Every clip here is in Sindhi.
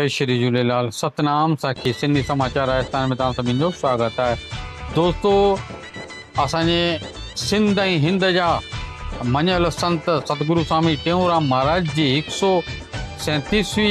جئي شري جهوليلال ستنام ساکي سنڌي سماچار راجستان ۾ توهان سڀني جو سواگت آهي دوستو اسان جي سنڌ ۽ هند جا مڃيل سنت ستگرو سامي ٽيئونرام مهاراج جي هڪ سو سيتيسوي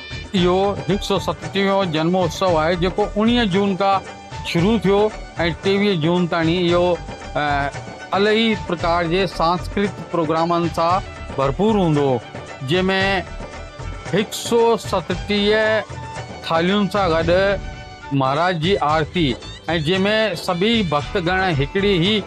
اهو هڪ سؤ ستٽيهون جنم اتسو آهي جيڪو اوڻيهه جون کان شروع ٿيو ۽ ٽيويهه جون تائين اهو الهي پرڪار جي سانسڪرت پروگرامن سان ڀرپور هوندو جنهن ۾ هڪ سؤ ستٽيهه ٿالهين سان گڏ مهاراج جي آرتي ۽ جنهن ۾ سڀئي ڀڪت گڻ هڪڙي ئي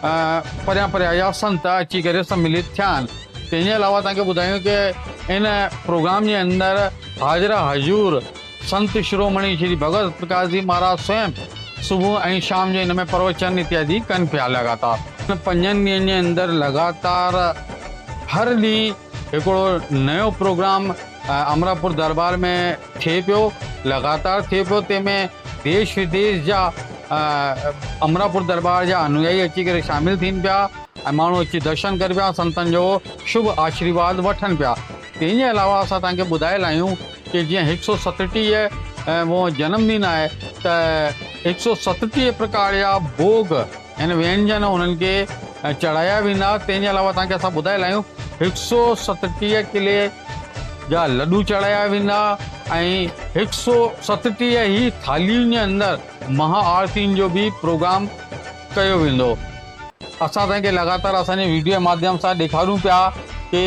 پريان پريان جا سنت اچي ڪري سمليت ٿيا آهن تنهن جي علاوه توهان کي ٻڌايون ته ان پروگرام جي اندر حاضر حضور سنت شرومڻي شري ڀڳت پرڪاش جي مهاراج سوئم صبح ۽ شام جو ان ۾ پروچن اتيادي ڪن پيا لڳاتار ان پنجن ڏينهن جي اندر لڳاتار هر ڏينهن هڪڙو نيو پروگرام امراپور دربار ۾ ٿئي پيو لڳاتار ٿئي پيو تنهن ۾ ديش وديش جا امراپور درٻار جا انويائي اچي ڪري شامل ٿين پيا ۽ ماڻهو اچي درشن ڪري پيا سنتن جو شڀ آشريواد وٺن پيا تنهن جي علاوه اسان توهان کي ٻڌائي لاهيون ڪي جيئن هڪ سو ستٽيهه مون جنم ڏن آهي ته هڪ سو ستٽيهه پرڪار جا ڀوڳ هن وينجن انهن کي چڙهايا ويندا، تنهن جي علاوه توهان کي اسان ٻڌائي لائيون هڪ سو ستٽيهه ڪلي جا لڏو چڙهايا ويندا ۽ هڪ سو ستٽيهه ئي ٿالهين جي اندر مها آرتين جو به پروگرام ڪيو ويندو. اسان توهان کي لڳاتار اسان جي ويڊيو جي ماڌيم سان ڏيکاريون پيا ڪي.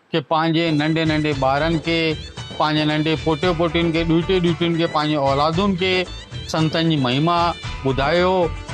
کي پنهنجي ننڍي ننڍي ٻارن کي پنهنجي ننڍي پوٽي پوٽين کي ڏوهٽي ڏوهٽين کي پنهنجي اولادن کي سنتن جي مهما ٻڌايو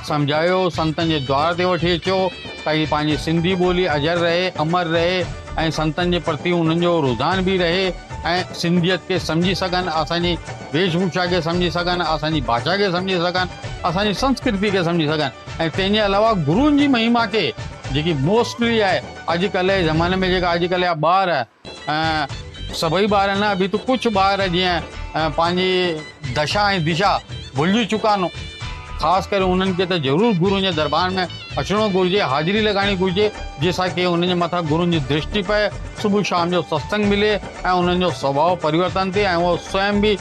سمجهايو سنتن جي دوار تي وٺي اچو تاڪي پنهنجي سنڌي ٻولي اجر رهي امر رهي ۽ سنتن جي پرتي انهن جو رجحان به رهي ۽ سنڌيت کي سمجهي سگهن اسان جي ويش ڀوشا کي سمجهي سگهن اسان جي ڀاشا کي سمجهي سگهن اسان جي سنسڪرتي کي سمجهي سگهن ۽ تنهن جي علاوه گرون جي مهما کي جيڪي موسٽلي آهي اڄ ڪلهه جي زماني ۾ جيڪا اڄ ڪلهه جا ٻار ۽ سڀئي ٻار نه ابي تو ڪڇ ٻار جيئن پنهنجي دشا ۽ دشا ڀلجي چڪا آهن خاص ڪري انهن کي ته ضرور گرون جي دربار ۾ اچڻو گهرجي حاضري لڳائڻي گهرجي جنهن سان ڪي انهن جي مٿان گرون جي درشٽي پئي صبح شام جو ستسنگ ملي ۽ انهن جو سڀاء پريورتن ٿئي ۽ اهي سوئم به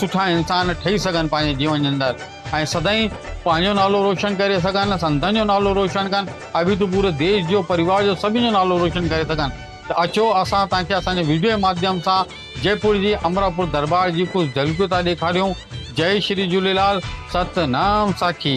سٺا انسان ٺهي سگهن پنهنجي جيون جي اندر. ۽ سدائين پنهنجو نالو روشن ڪري سگهن، سنتن جو نالو روشن ڪن، ابي تون پوري ديش جو، پريوار جو سڀني جو نالو روشن ڪري سگهن ته اچو اسان توهان کي اسان جي ويڊيو جي ماڌيم سان جئپور جي امراپور درٻار جي ڪجهه جهلڪيون ٿا ڏيکاريون. جئي شري جهوليلال ست نام ساکي.